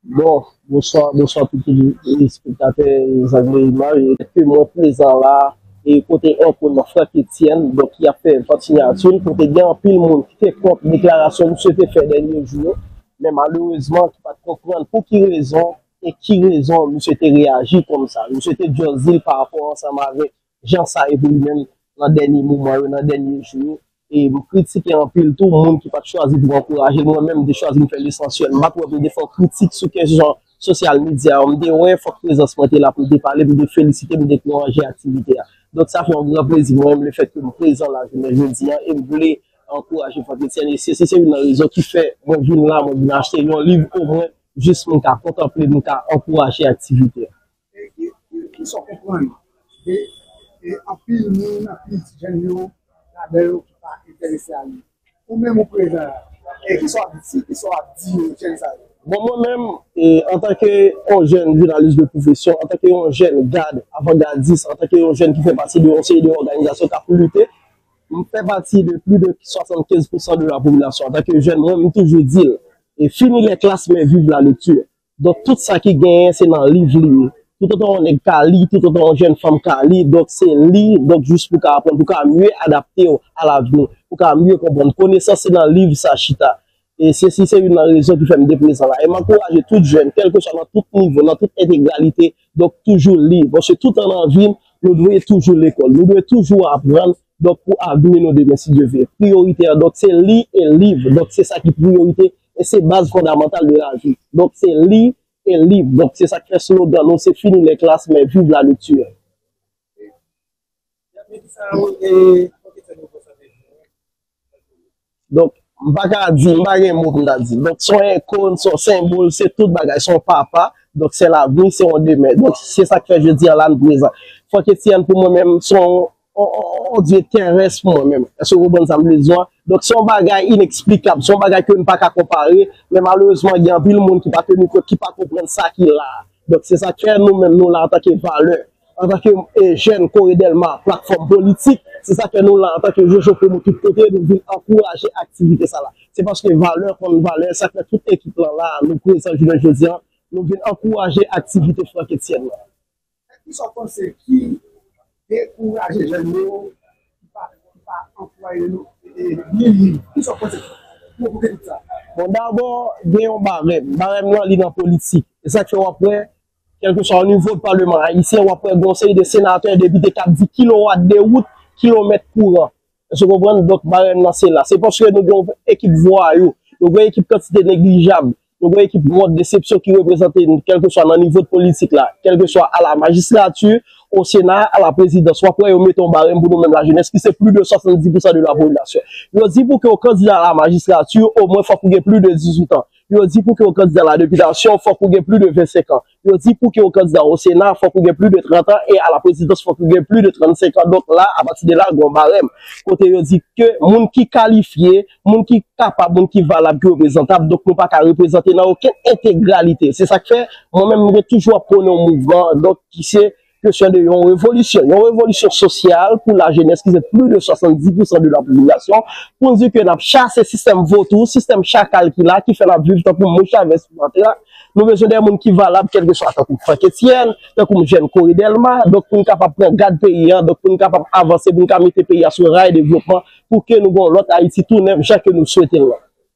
Bon, bonswa, bonswa pou tout espektatè Zangloue Image. Ke mwen prezan la a, e kote anko nan Franck Etienne, donk ki ap fè vant siyati l, kote gen anpil moun ki te kont deklarasyon misye te fè dènye jou yo, men malerezman ki pa t konprann pou ki rezon e ki rezon misye te reyaji kòm sa. Misye te just di l parapò ansanm avèk jan sa ye pou li menm nan dènye moman yo, nan dènye jou yo. E m kritike anpil tou moun ki pat chwazi pou ankouraje l. Mwen menm m te chwazi m fè lesansyèl. M pat wè pou m te fè kritik sou kèk jan sosyal medya yo. M te wè fòk prezans mwen te la pou m te pale, pou m te felisite, pou m te ankouraje aktivite a. Donk sa fè yon gran plezi pou mwen lefèt ke m prezan la jounen jodi a e m vle ankouraje Franck Etienne. E se se youn nan rezon ki fè mwen vin la, mwen vin achte yon liv omwen jis pou m ka kontanple, pou m ka ankouraje aktivite a. Kisa w konprann de anpil moun, anpil ti jèn yo ladan yo ki pa enterese a li? Ou menm ou prezan la, kisa w ap di, kisa w ap di jèn sa yo? Bon, mwen menm, antanke yon jèn jounalis de pwofesyon, antanke yon jèn gad, avangadis, antanke yon jèn ki fè pati de yon seri de òganizasyon k ap lite, m fè pati de plis de 75 pousan de la popilasyon, antanke jèn, mwen menm m toujou di l, fini les classes, mais vive la lecture! Donk tout sa ki genyen se nan liv li ye. Toutotan yon nèg ka li, toutotan yon jèn fanm ka li, donk se li, donk jis pou ka aprann, pou ka mye adapte w a lavni, pou ka mye konprann. Konesans se nan liv sa chita. E sesi se youn nan rezon ki fè m te prezan la. E m ankouraje tout jèn, kèlkeswa nan tout nivo, nan tout entegralite, donk toujou li. Paske tout an nan vi n, nou dwe toujou lekòl. Nou dwe toujou aprann, donk pou avni nou demen si Dye vle. Priyorite an donk se li e liv. Donk se sa ki priyorite E se baz fondamantal de la vi. Donk se li e liv. Donk se sa k fè slogan nou se Fini les classes mais vive la lecture. Donk m pa ka di, m pa gen mo pou m ta di. Donk se yon ikon, se yon senbòl, se tout bagay, se yon papa. Donk se lavni, se yon demen. Donk se sa k fè jodi a la n prezan. Fòk Etienne pou mwen menm se yon On dye terès pou mwen menm. Èske w konprann sa m vle di w a? Donk, se yon bagay ineksplikab, se yon bagay ke nou pa ka konpare, men malerezman gen anpil moun ki pa teni kont, ki pa konprann sa ki la a. Donk, se sa k fè nou menm nou la antanke valè, antanke jèn Kore Dèlma, platfòm politik, se sa k fè nou la antanke Jojo Promo tout kote, nou vin ankouraje aktivite sa la. Se paske valè konn valè, sa k fè tout ekip lan la a, nou prezan jounen jodi a, nou vin ankouraje aktivite Frankétienne lan. Men kisa w panse ki dekouraje jèn yo ki pa ki pa anplwaye nou ni li kisa w panse ki pwovoke tout sa? Bon dabò gen yon barèm, barèm nan li nan politik e sak fè wap wè kèlkeswa onivo palman ayisyen wap wè gen yon seri de senatè, depite kap di kilowat de wout, kilomèt kouran Èske w konprann? Donk, marèn nan se la. Se paske nou gen yon ekip vwayou, nou gen yon ekip kantite neglijab, nou gen yon ekip mòd desepsyon ki reprezante n, kèlkeswa nan nivo de politik la, kèlkeswa a la majistrati, o sena, a la prezidans. Wap wè yo mete yon barèm pou nou menm lajenès ki se plis de 70 pousan de la popilasyon. Yo di pou ke w kandida a la majistrati, omwen fòk ou gen plis de 18 an. Yo di pou ke w kandida a la depitasyon, fòk ou gen plis de 25 an. Yo di pou ke ou kandida o sena fòk ou gen pli de 30 an e a la prezidans fòk ou gen pli de 35 an donk la apati de la gon barèm kote yo di ke moun ki kalifye, moun ki kapab, moun ki valab, ki reprezantab donk nou pa ka reprezante nan okenn entegralite se sak fè mwen menm mwen toujou ap pwone yon mouvman donk ki se Kesyon de yon revolisyon, yon revolisyon sosyal pou lajenès ki se plis de 70 pousan de lapopilasyon pou n di ke n ap chase sistèm votou, sistèm chakal ki la, ki fè n ap viv tankou mou chavèz sou latè a. Nou bezwen de moun ki valab kèlkeswa tankou Frank Etienne, tankou m jèn Corey Delma, donk pou n kapab pran gad peyi a, donk pou n kapab avanse, pou n ka mete peyi a sou ray devlopman pou ke nou gen yon lòt Ayiti tou nèf jan ke nou swete l lan.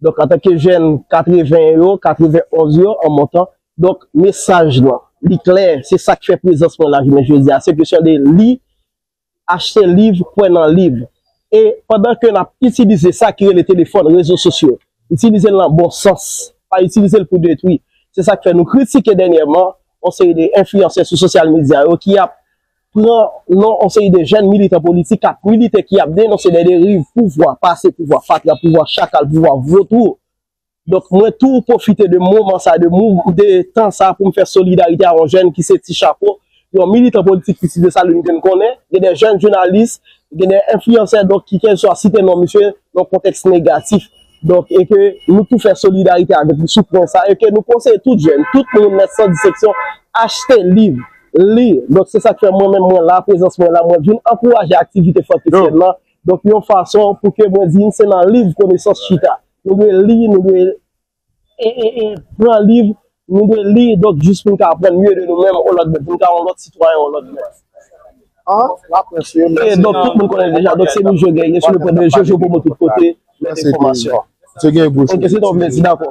Donk antanke jèn 80 yo, 91 yo an montan, donk mesaj lan, li klè, se sa k fè prezans mwen la jounen jodi a, se kesyon de li, achte liv, kwè nan liv. E pandan ke n ap itilize sa ki rele telefòn, rezo sosyo, itilize l nan bon sans, pa itilize l pou detwi. Se sa k fè nou kritike dènyèman yon seri de enfliyansè sou sosyal medya yo ki ap. pran non yon seri de jèn militan politik k ap milite, ki ap denonse de deriv pouvwa pase, pouvwa fatra, pouvwa chakal, pouvwa votwou. Donk mwen tou pwofite de moman sa, de tan sa pou m fè solidarite a yon jèn ki se Ti Chapo, yon militan politik ki site sa li m konnen, gen de jèn jounalis, gen de enfliyansè donk ki kèlkeswa site non misye nan kontèks negatif. Donk e ke nou tou fè solidarite avèk li sou pwen sa e ke nou konseye tout jèn, tout moun nèt san diseksyon achte liv. Li. Donk se sa k fè mwen menm mwen la, prezans mwen la, mwen vin ankouraje aktivite fantesyèn lan, donk yon fason pou ke mwen di n se nan liv konesans chita. Nou dwe li, nou dwe pran liv, nou dwe li donk jis pou n ka aprann mye de nou menm ou lòt moun, pou n ka yon lòt sitwayen ou lòt moun. E donk tout moun konnen l deja, donk se nou Jojo, gen sou nou pran de Jojo Promo tout kote, mèt enfòmasyon. Ok se sa w vle di, dakò.